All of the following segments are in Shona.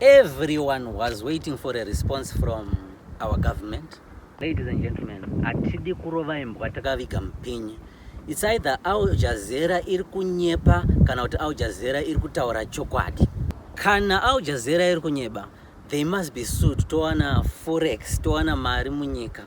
Everyone was waiting for a response from our government. Ladies and gentlemen, hatidi kurova imbwa takaviga mupinyi. It's either Al Jazeera iri kunyepa kana kuti Al Jazeera iri kutaura chokwadi. Kana Al Jazeera iri kunyeba, they must be sued towana forex, towana mari munyika.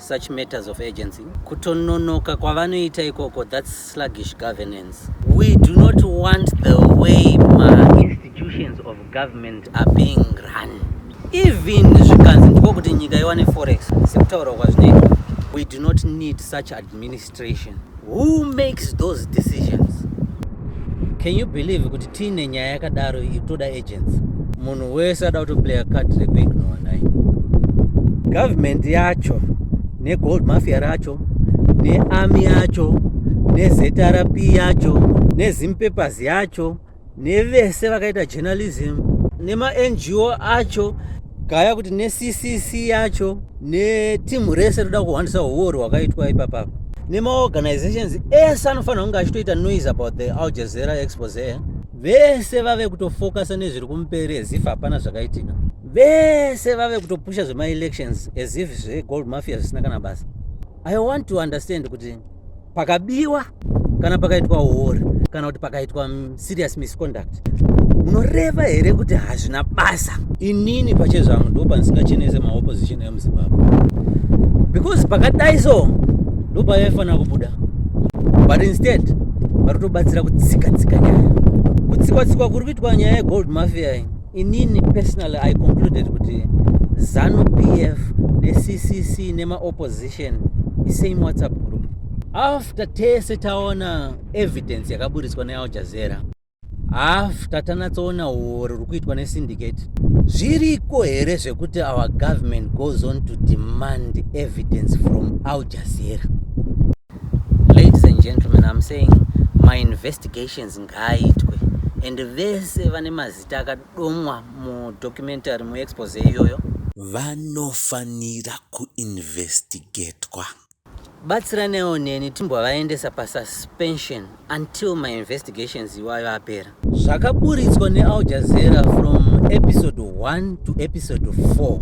such matters of urgency kutononoka kwavanoita ikoko that's sluggish governance we do not want the way mainstitutions of government are being run even zvikanzi ndiko kuti nyika iwane forex sekutaura kwazvinoita we do not need such administration Who makes those decisions? Can you believe kuti tiine nyaya yakadaro itoda agents? Munhu wese ada kutoplaya card rekuignowa naye. Government yacho negold mafia racho nearmy yacho nezrp yacho nezimpapers yacho nevese vakaita journalism nemaNGO acho gaya kuti neCCC yacho neteam rese rinoda kuhwandisa huori hwakaitwa ipapapa nemaorganizations ese anofanira kunge achitoita noise about the Al Jazeera expose vese vave kutofocusa nezviri kumberi as if hapana zvakaitika vese vave kutopusha zvemaelections as if zvegold mafia zvisina kana basa i want to understand kuti pakabiwa kana pakaitwa huori kana kuti pakaitwa serious misconduct munoreva here kuti hazvina basa inini pachezvangu ndo pandisingachenese maopposition emuzimbabwe because pakadai so ndo pavaifanira kubuda but instead vari kutobatsira kutsikatsika nyaya kutsikwa tsikwa kuri kuitwa nyaya yegold mafia iyi inini personally i concluded kuti zanu pf neccc nemaopposition isame whatsapp group after tese taona evidence yakaburitswa neal jazera after tanatsoona huori huri kuitwa nesyndicate zviriko here zvekuti our government goes on to demand evidence from al jazera Ladies and gentlemen, I'm saying my investigations ngaaitwe and vese vane mazita akadomwa mudocumentary muexpose iyoyo vanofanira kuinvestigatwa. Batsiranewo neni timbwavaendesa pasuspension until my investigations iwayo apera. Zvakaburitswa neAl Jazeera from episode 1 to episode 4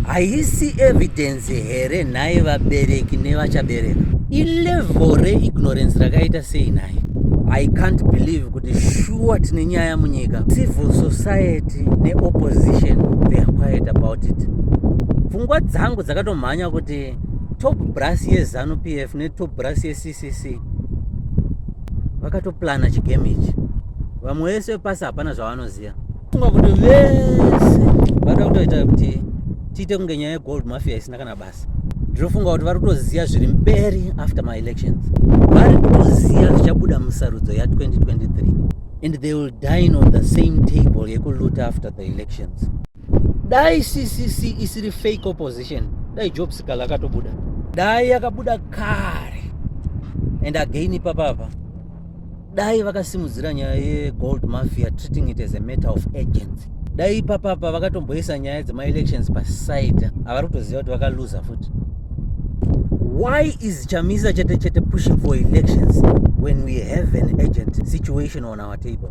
haisi evidence here nhai vabereki nevachabereka? Ilevel reignorance rakaita sei nhai? I can't believe kuti shuwa tine nyaya munyika. Civil society neopposition they are quiet about it. Pfungwa dzangu dzakatomhanya kuti top brass yezanu pf netop brass yec sisi vakatoplana chigame ichi vamwe vese vepasi hapana zvavanoziva funga kuti vese vada kutoita kuti tiite kunge nyaya yegold mafia isina kana basa ndinofunga kuti vari kutoziva zviri mberi after maelections vari kutoziva zvichabuda musarudzo ya2023 and they will dine on the same table yekuluta after the elections dai ccc isiri fake opposition dai job sikala akatobuda dai yakabuda kare and again ipapa apa dai vakasimudzira nyaya yegold mafia treating it as a matter of agency dai ipapa apa vakatomboisa nyaya dzemaelections paside havari kutoziva kuti vakaluza futi why is chamisa chete chete pushing for elections when we have an agent situation on our table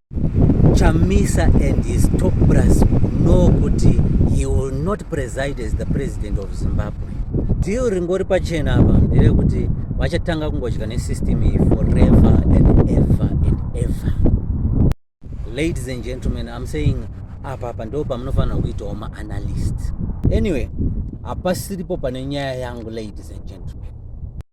Chamisa and his top brass know kuti he will not preside as the president of Zimbabwe. Deal ringori pachena apa nderekuti vachatanga kungodya nesystem iyi forever and ever and ever. Ladies and gentlemen, I'm saying apa apa ndo pamunofanira kuitawo maanalyst. Anyway, hapasiripo pane nyaya yangu ladies and gentlemen.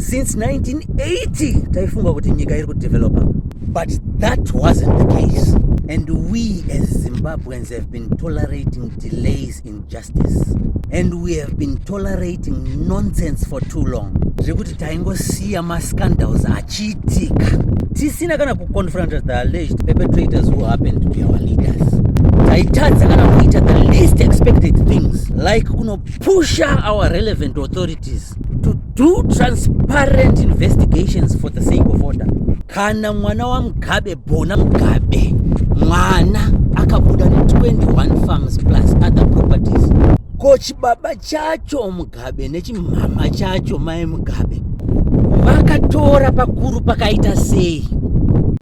since 1980 taifunga kuti nyika iri kudevelopa but that wasn't the case and we as zimbabweans have been tolerating delays in justice and we have been tolerating nonsense for too long zvekuti taingosiya mascandals achiitika tisina kana kuconfronta the alleged perpetrators who happen to be our leaders taitadza kana kuita the least expected things like kunopusha our relevant authorities to do transparent investigations for the sake of order kana mwana wamugabe bona mugabe mwana akabuda ne21 farms plus other properties ko chibaba chacho mugabe nechimhama chacho mai mugabe vakatora pakuru pakaita sei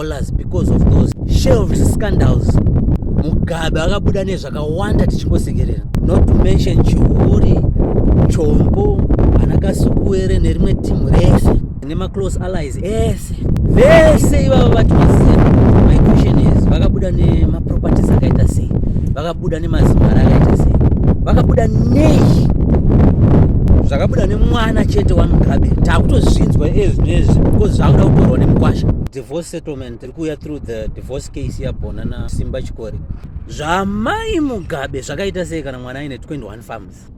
dollars because of those shelved scandals mugabe akabuda nezvakawanda tichingosekerera not to mention chihuri chombo ana kasukuwere nerimwe timu rese nemaclose allies ese vese ivavo vati vasiya my question is vakabuda nemaproperties akaita sei vakabuda nemazimari akaita sei vakabuda nei zvakabuda nemwana chete wamugabe takutozvinzwa ezvinezvi because zvakuda kutorwa nemukwasha divorce settlement iri kuuya through the divorce case yabhona na simba chikori zvamai mugabe zvakaita sei kana mwana aine 21 farms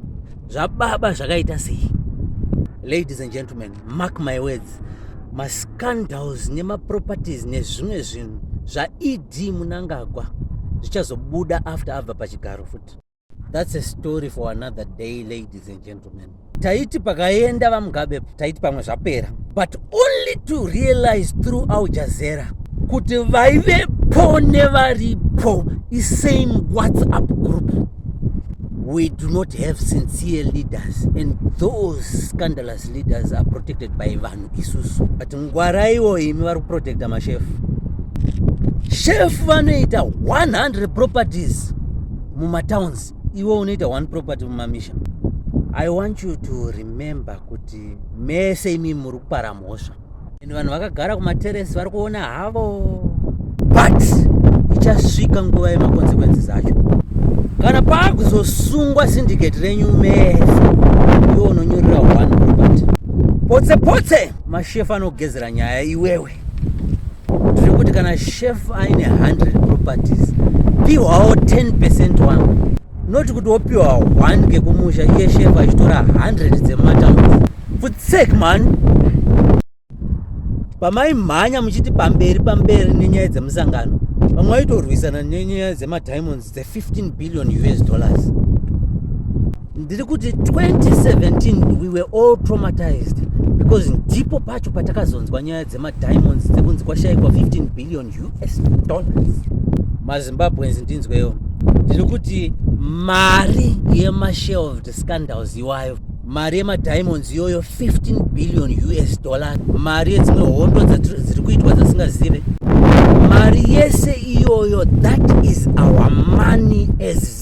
zvababa zvakaita sei ladies and gentlemen mark my words mascandals nemaproperties nezvimwe zvinhu zvaed munangagwa zvichazobuda after abva pachigaro futi That's a story for another day ladies and gentlemen. Taiti pakaenda vaMugabe taiti pamwe zvapera but only to realize through Al Jazeera kuti vaivepo nevaripo isame WhatsApp group we do not have sincere leaders and those scandalous leaders are protected by vanhu isusu but ngwaraiwo imi vari kuprotecta mashefu shefu vanoita 100 properties mumatowns iwe unoita one property mumamisha i want you to remember kuti mese imi muri kupara mhosva and vanhu vakagara kumateresi vari kuona havo but ichasvika nguva yemakonsekwensi zacho kana paakuzosungwa syndicate renyu mese iwe unonyorera one property potse potse mashefu anogezera nyaya iwewe tiri kuti kana chef aine 100 properties piwawo 10 percent wangu noti kuti wopiwa 1 kekumusha iye chef achitora 100 dzemumatambudzi futsek mani pamaimhanya muchiti pamberi pamberi nenyaya dzemusangano vamwe vaitorwisana nenyaya dzemadiamonds dze15 billion us dollars ndiri kuti 2017 we were all traumatized because ndipo pacho patakazonzwa nyaya dzemadiamonds dzekunzi kwashaikwa 15 billion us dollars mazimbabweans ndinzweyo ndiri kuti mari yemashelved scandals iwayo mari yemadiamonds iyoyo 15 billion us dollars mari yedzimwe hondo dziri kuitwa dzasingazive mari yese iyoyo that is our money as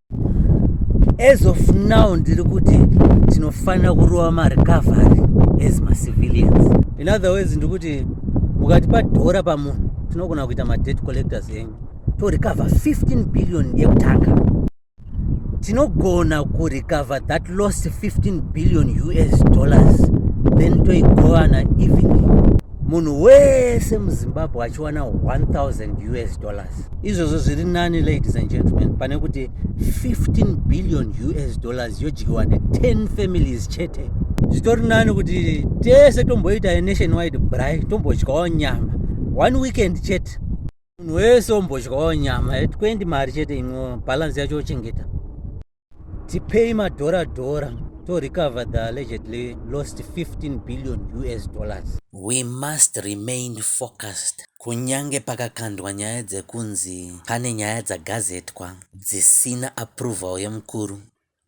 as of now ndiri kuti tinofanira kurova marecovery as macivilians in other ways ndikuti mukatipa dhora pamunhu tinogona kuita madebt collectors enyu torecover 15 billion yekutanga tinogona kurecover that lost 15 billion us dollars then toigovana even munhu wese muzimbabwe achiwana 1000 us dollars dollars izvozvo zviri nani ladies and gentlemen pane kuti 15 billion us dollars yodyiwa ne10 families chete zvitori nani kuti tese tomboita yenation wide bry tombodyawo nyama one weekend chete munhu wese ombodyawo nyama 20 mari chete imwe balance yacho ochengeta tipei madhora dhora to recover the allegedly lost 15 billion us dollars we must remain focused kunyange pakakandwa nyaya dzekunzi pane nyaya dzagazetwa dzisina approval yemukuru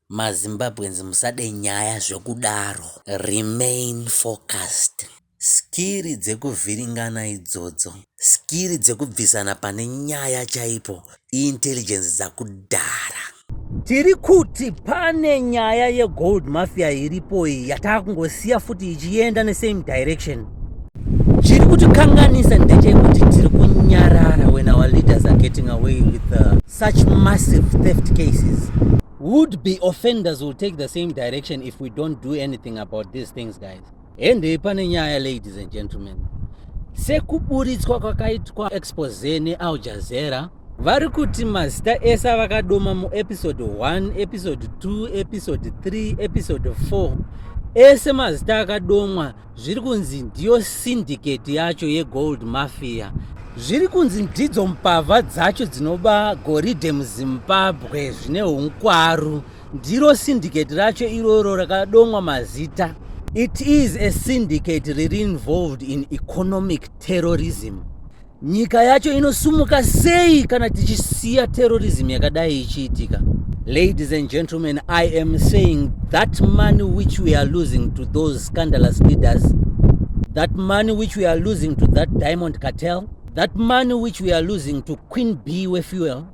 mazimbabweans musade nyaya zvekudaro remain focused Skiri dzekuvhiringana idzodzo. Skiri dzekubvisana pane nyaya chaipo iIntelligence dzakudhara. Tiri kuti pane nyaya yeGold Mafia iripo iyi yatakungosiya futi ichienda nesame direction. Chiri kutikanganisa ndechekuti tiri kunyarara when our leaders are getting away with the, uh, such massive theft cases. Would be offenders will take the same direction if we don't do anything about these things guys. Hende pane nyaya ladies and gentlemen. Sekuburitswa kwakaitwa expose neAl Jazeera vari kuti mazita ese avakadoma muepisode 1 episode 2 episode 3 episode 4 ese mazita akadomwa zviri kunzi ndiyo syndicate yacho yegold mafia zviri kunzi ndidzo mbavha dzacho dzinoba goridhe muzimbabwe zvine unkwaru Ndiro syndicate racho iroro rakadomwa mazita. It is a syndicate riri involved in economic terrorism. Nyika yacho inosumuka sei kana tichisiya terrorism yakadai ichiitika? Ladies and gentlemen, I am saying that money which we are losing to those scandalous leaders, that money which we are losing to that diamond cartel, that money which we are losing to Queen B with fuel,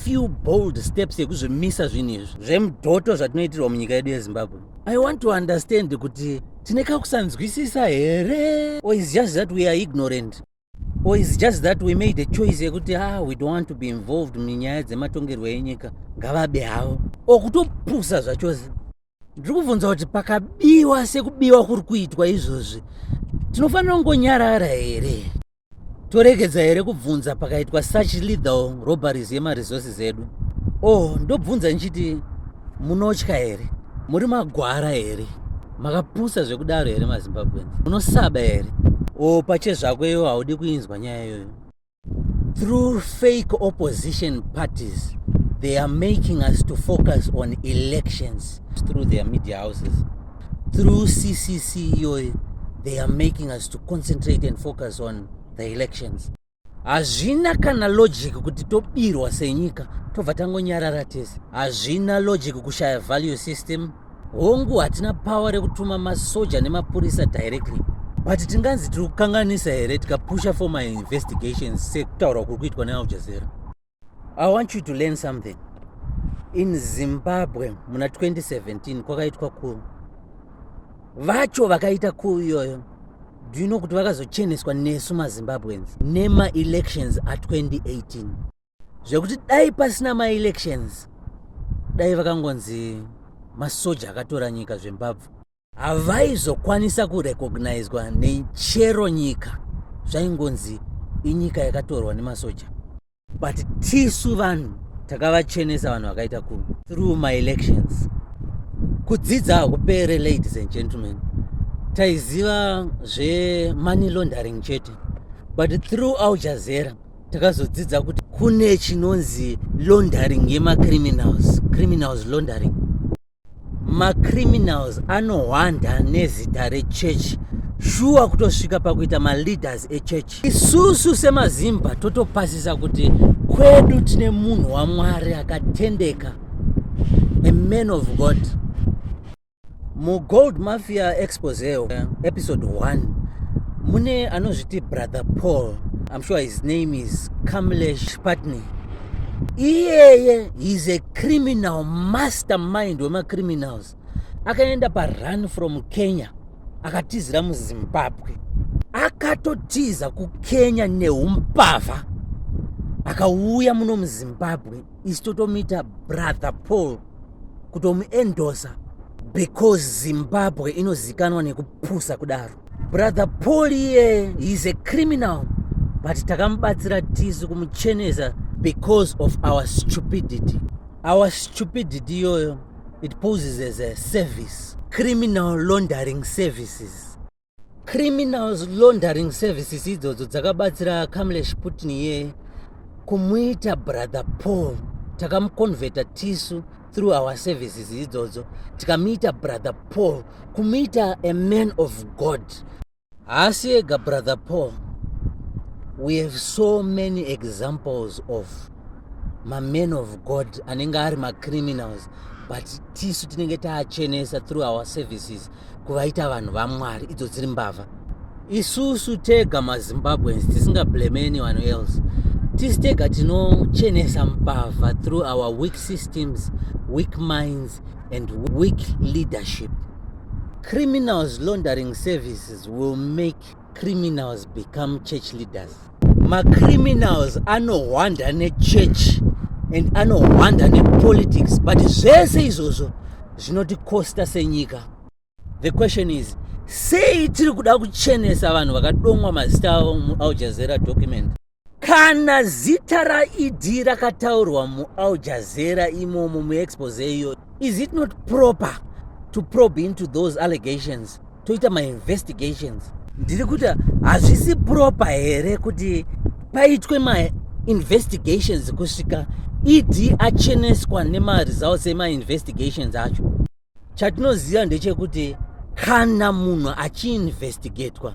few bold steps yekuzvimisa zvinhu izvi zvemudhoto zvatinoitirwa munyika yedu yezimbabwe i want to understand kuti tine kakusanzwisisa here or is just that we are ignorant or is just that we made a choice yekuti ah we don't want to be involved munyaya dzematongerwo enyika ngavabe havo or kutopusa zvachose ndiri kubvunza kuti pakabiwa sekubiwa kuri kuitwa izvozvi tinofanira kungonyarara here Toregedza here kubvunza pakaitwa such legal robberies yemaresources edu? Oh, ndobvunza ndichiti munotya here? Muri magwara here? Makapusa zvekudaro here maZimbabweans? Munosaba here? Oh, pache zvako iyoyo haudi kuinzwa nyaya iyoyo. Through fake opposition parties they are making us to focus on elections through their media houses. through ccc iyoyo they are making us to concentrate and focus on the elections hazvina kana logic kuti tobirwa senyika tobva tangonyarara tese hazvina logic kushaya value system hongu hatina power rekutuma masoja nemapurisa directly but tinganzi tiri kukanganisa here tikapusha for my investigations sekutaurwa kuri kuitwa nealjazera I want you to learn something. In Zimbabwe muna 2017 kwakaitwa ku vacho vakaita ku iyoyo do you know kuti vakazocheneswa nesu mazimbabweans nemaelections a2018 zvekuti dai pasina maelections dai vakangonzi masoja akatora nyika zvembabvu havaizokwanisa kurecognizwa nechero nyika zvaingonzi inyika yakatorwa nemasoja but tisu vanhu takavachenesa vanhu vakaita ku through my elections kudzidza hakupere ladies and gentlemen taiziva zvemoney laundering chete but through aljazera takazodzidza kuti kune chinonzi laundering yemacriminals criminals laundering macriminals anohwanda nezita rechurch shuwa kutosvika pakuita maleaders echurch isusu semazimba totopasisa kuti kwedu tine munhu wamwari akatendeka a man of god mugold mafia expose episode 1 mune anozviti brother paul i'm sure his name is kamlesh patney iyeye he's a criminal mastermind wemacriminals akaenda parun from kenya akatizira muzimbabwe akatotiza kukenya neumbavha akauya muno muzimbabwe isi totomuita brother paul kutomuendosa because zimbabwe inozikanwa nekupusa kudaro brother paul iye is a criminal but takamubatsira tisu kumuchenesa because of our stupidity our stupidity iyoyo it poses as a service criminal laundering services criminal laundering services idzodzo dzakabatsira kamlesh putin iye kumuita brother paul takamuconvheta tisu through our services idzodzo tikamuita brother paul kumuita a man of god haasi ega brother paul we have so many examples of maman of god anenge ari macriminals but tisu tinenge taachenesa through our services kuvaita vanhu vamwari idzo dziri mbavha isusu tega mazimbabweans tisingablame anyone else tisi tega tinochenesa mbavha through our weak systems weak minds and weak leadership criminals laundering services will make criminals become church leaders macriminals anohwanda nechurch and anohwanda nepolitics but zvese izvozvo zvinotikosta senyika the question is sei tiri kuda kuchenesa vanhu vakadomwa mazita avo mualjazera document kana zita raed rakataurwa mual jazera imomo muexpose iyo is it not proper to probe into those allegations toita mainvestigations ndiri kuti hazvisi proper here kuti paitwe mainvestigations kusvika ed acheneswa nemaresults emainvestigations acho chatinoziva ndechekuti kana munhu achiinvestigatwa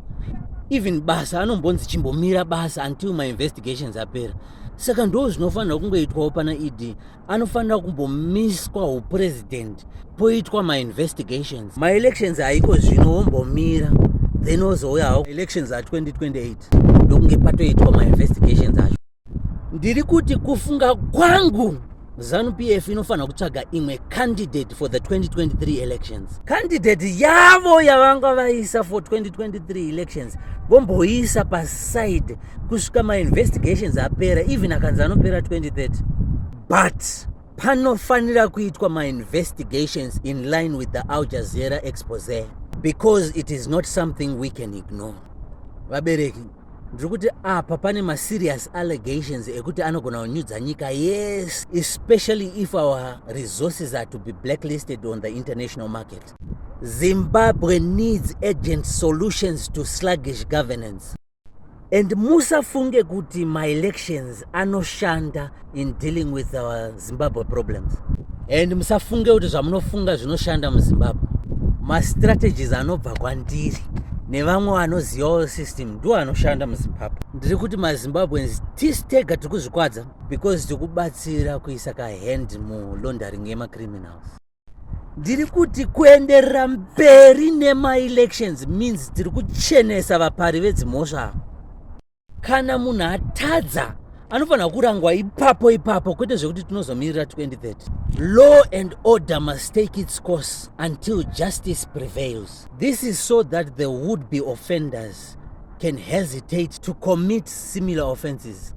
even basa anombonzi chimbomira basa until mainvestigations apera saka ndo zvinofanira kungoitwawo pana ed anofanira kumbomiswa upresident poitwa mainvestigations maelections aiko zvino wombomira then ozouyawo elections a 2028 ndokunge patoitwa mainvestigations acho ndiri kuti kufunga kwangu zanupf inofanira kutsvaga imwe candidate for the 2023 elections candidate yavo yavanga vaisa for 2023 elections vomboiisa paside kusvika mainvestigations apera even akanzi anopera 2030 but panofanira kuitwa mainvestigations in line with the aljazera expose because it is not something we can ignore vabereki ndiri kuti apa pane maserious allegations ekuti anogona kunyudza nyika yes especially if our resources are to be blacklisted on the international market zimbabwe needs agent solutions to sluggish governance and musafunge kuti maelections anoshanda in dealing with our zimbabwe problems and musafunge kuti zvamunofunga zvinoshanda muzimbabwe mastrategies anobva kwandiri nevamwe vanozivawo system ndo anoshanda muzimbabwe ndiri kuti mazimbabweans tisi tega tiri kuzvikwadza because tiri kubatsira kuisa kahand mulaundering yemacriminals ndiri kuti kuenderera mberi nemaelections means tiri kuchenesa vapari vedzimhosva kana munhu atadza anofanira kurangwa ipapo ipapo kwete zvekuti tinozomirira 2030 law and order must take its course until justice prevails this is so that the would be offenders can hesitate to commit similar offenses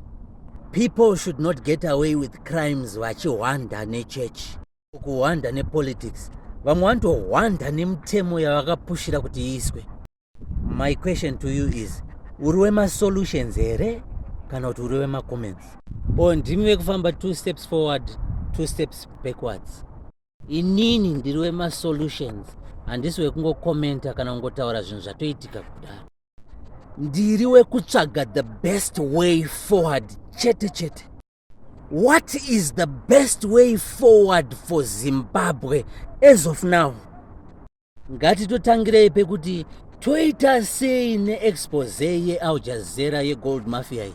people should not get away with crimes vachihwanda nechechi kuhwanda nepolitics vamwe vanotohwanda nemutemo yavakapushira kuti iiswe My question to you is uri wemasolutions here kana kuti uri wemacomments o oh, ndimi vekufamba two steps forward two steps backwards inini ndiri wemasolutions handisi wekungokomenta kana kungotaura zvinhu zvatoitika kudaro ndiri wekutsvaga the best way forward chete chete What is the best way forward for Zimbabwe as of now? Ngatitotangirei pekuti toita sei neexpose yealjazera yegold mafia iyi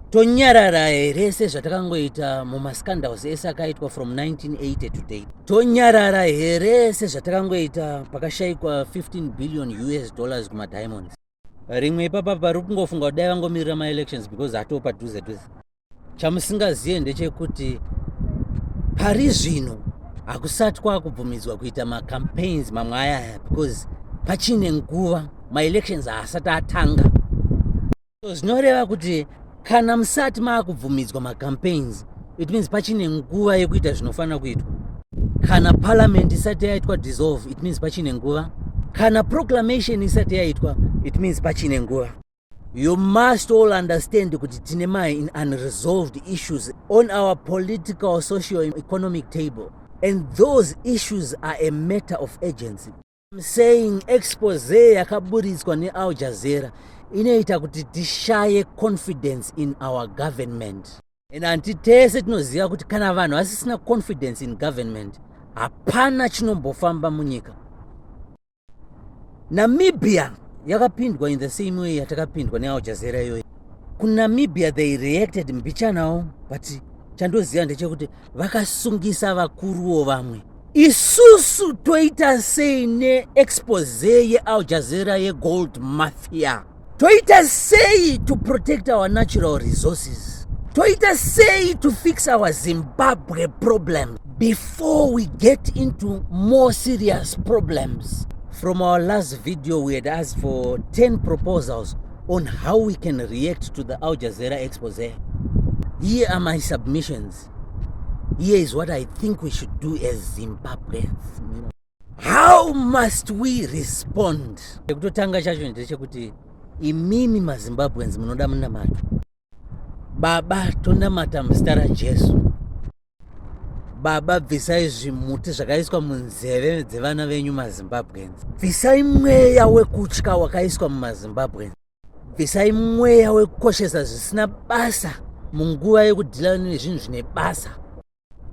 tonyarara here sezvatakangoita mumascandals ese akaitwa from 1980 today tonyarara here sezvatakangoita pakashaikwa 15 billion us dollars kumadiamonds rimwe ipapa pari kungofunga kuti dai vangomirira maelections because atoo padhuze dhuze chamusingazive ndechekuti pari zvino hakusati kwakubvumidzwa kuita macampaigns mamwe aya aya because pachine nguva maelections haasati atanga so zvinoreva kuti kana musati maakubvumidzwa macampaigns it means pachine nguva yekuita zvinofanira kuitwa kana parliament isati yaitwa dissolve it means pachine nguva kana proclamation isati yaitwa it means pachine nguva you must all understand kuti tine mai in unresolved issues on our political social economic table and those issues are a matter of agency I'm saying expose yakaburitswa neAl Jazeera inoita kuti tishaye confidence in our government and hanti tese tinoziva kuti kana vanhu vasisina confidence in government hapana chinombofamba munyika namibia yakapindwa in the same way yatakapindwa neAl Jazeera iyoyi kunamibia they reacted mbichanawo but chandoziva ndechekuti vakasungisa vakuruwo vamwe isusu toita sei neexpose yeal jazeera yegold mafia toita sei to protect our natural resources toita sei to fix our zimbabwe problem before we get into more serious problems from our last video we had asked for 10 proposals on how we can react to the Al Jazeera expose. Here are my submissions. Here is what I think we should do as Zimbabweans. How must we respond? Kutotanga chacho ndechekuti imimi maZimbabweans munoda munamato. Baba, tonamata muzita raJesu. Baba, bvisai zvimuti zvakaiswa munzeve dzevana venyu maZimbabweans. Bvisai mweya wekutya wakaiswa mumaZimbabweans. Bvisai mweya wekukoshesa zvisina basa munguva yekudhila nezvinhu zvine basa.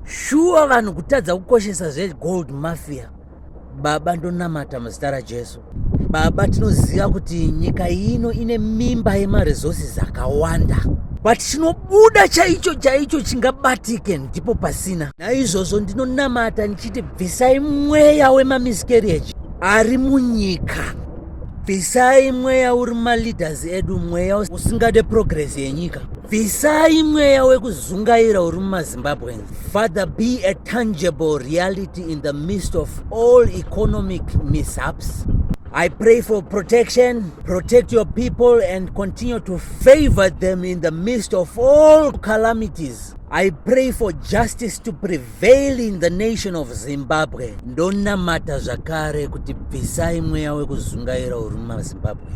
shuwa vanhu kutadza kukoshesa zvegold mafia baba ndonamata muzita rajesu baba tinoziva kuti nyika ino ine mimba yemaresources akawanda but chinobuda chaicho chaicho chingabatike ndipo pasina naizvozvo ndinonamata ndichiti bvisai mweya wemamiscarriage ari munyika bvisai mweya uri maleaders edu mweya usingade progress yenyika bvisai mweya wekuzungaira uri mumazimbabweans father be a tangible reality in the midst of all economic mishaps I pray for protection, protect your people, and continue to favor them in the midst of all calamities. I pray for justice to prevail. Veiling the nation of Zimbabwe ndonamata zvakare kuti bvisai mweya wekuzungaira uri mumazimbabwe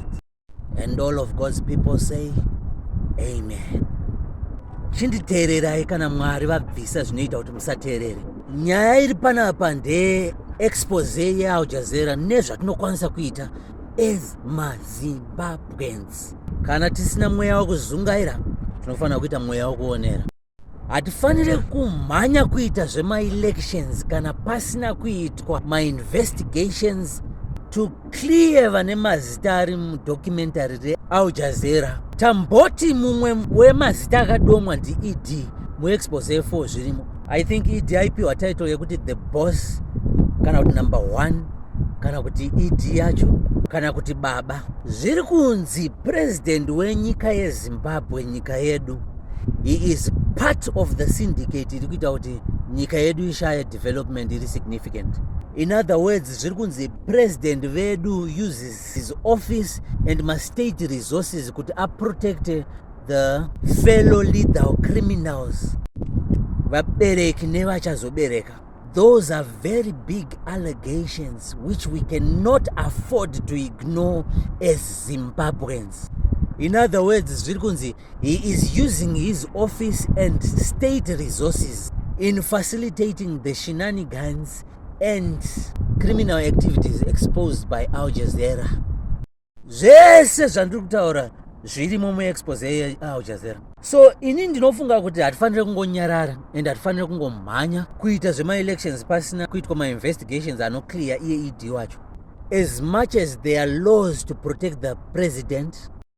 and all of God's people say amen chinditeererai kana mwari vabvisa zvinoita kuti musateerere nyaya iri panapa ndeye expose yealjazera nezvatinokwanisa kuita as mazimbabweans kana tisina mweya wekuzungaira tinofanira kuita mweya wekuonera hatifanire kumhanya kuita zvemaelections kana pasina kuitwa mainvestigations to clear vane mazita ari mudocumentary real jazera tamboti mumwe wemazita akadomwa ndied muexpose efo zvirimo i think ed aipiwa title yekuti the boss kana kuti number one kana kuti ed yacho kana kuti baba zviri kunzi purezidhendi wenyika yezimbabwe nyika yedu he is part of the syndicate iri kuita kuti nyika yedu ishaye development iri significant in other words zviri kunzi president vedu uses his office and mastate resources kuti aprotecte the fellow leader of criminals vabereki nevachazobereka those are very big allegations which we cannot afford to ignore as zimbabweans in other words zviri kunzi He is using his office and state resources in facilitating the shenanigans and criminal activities exposed by Al Jazeera. Zvese zvandiri kutaura zvirimo muexpose yeAl Jazeera. So ini ndinofunga kuti hatifanire kungonyarara and hatifanire kungomhanya kuita zvemaelections pasina kuitwa mainvestigations anoclear iye ED wacho. As much as there are laws to protect the president,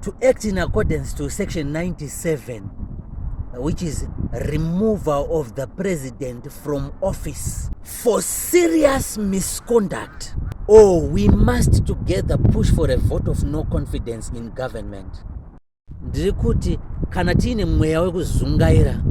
to act in accordance to section 97 which is removal of the president from office for serious misconduct or we must together push for a vote of no confidence in government ndiri kuti kana tiine mweya wekuzungaira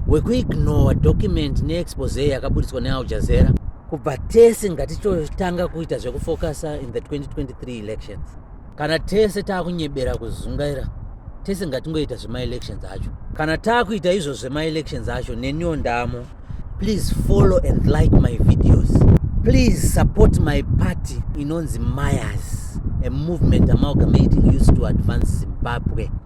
wekuignore document neexpose yakaburitswa nealjazera kubva tese ngatitotanga kuita zvekufokasa in the 2023 elections kana tese taakunyebera kuzungaira tese ngatingoita zvemaelections acho kana taakuita izvo zvemaelections acho neniwo ndamo please follow and like my videos please support my party inonzi mayas a movement amalgamating used to advance zimbabwe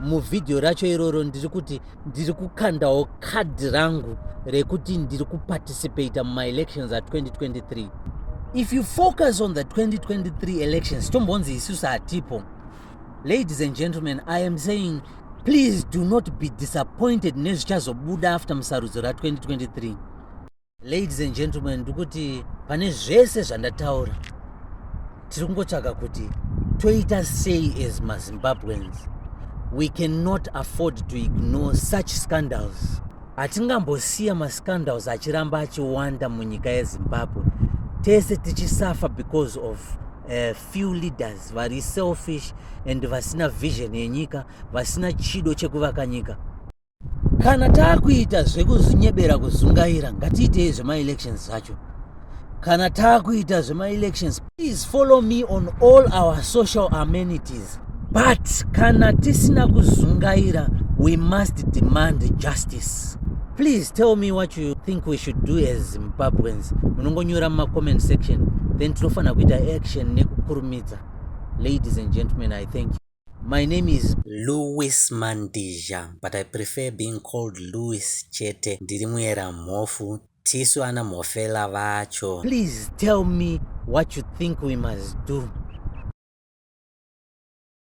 muvhidhiyo racho iroro ndiri kuti ndiri kukandawo kadhi rangu rekuti ndiri kuparticipata mumaelections a2023 if you focus on the 2023 elections tombonzi isusu hatipo ladies and gentlemen i am saying please do not be disappointed nezvichazobuda after musarudzo ra2023 Ladies and gentlemen, ndikuti pane zvese zvandataura tiri kungotsvaga kuti toita sei as mazimbabweans we cannot afford to ignore such scandals hatingambosiya mascandals achiramba achiwanda munyika yezimbabwe tese tichisafa because of uh, few leaders vari selfish and vasina vision yenyika vasina chido chekuvaka nyika kana taakuita zvekuzvinyebera kuzungaira ngatiitei zvemaelections zvacho kana taakuita zvemaelections please follow me on all our social amenities but kana tisina kuzungaira we must demand justice please tell me what you think we should do as zimbabweans munongonyora mumacomment section then tinofanira kuita action nekukurumidza ladies and gentlemen i thank you My name is Louis Mandizha but I prefer being called Louis chete. Ndiri muera mhofu tisu ana mhofela vacho. Please tell me what you think we must do.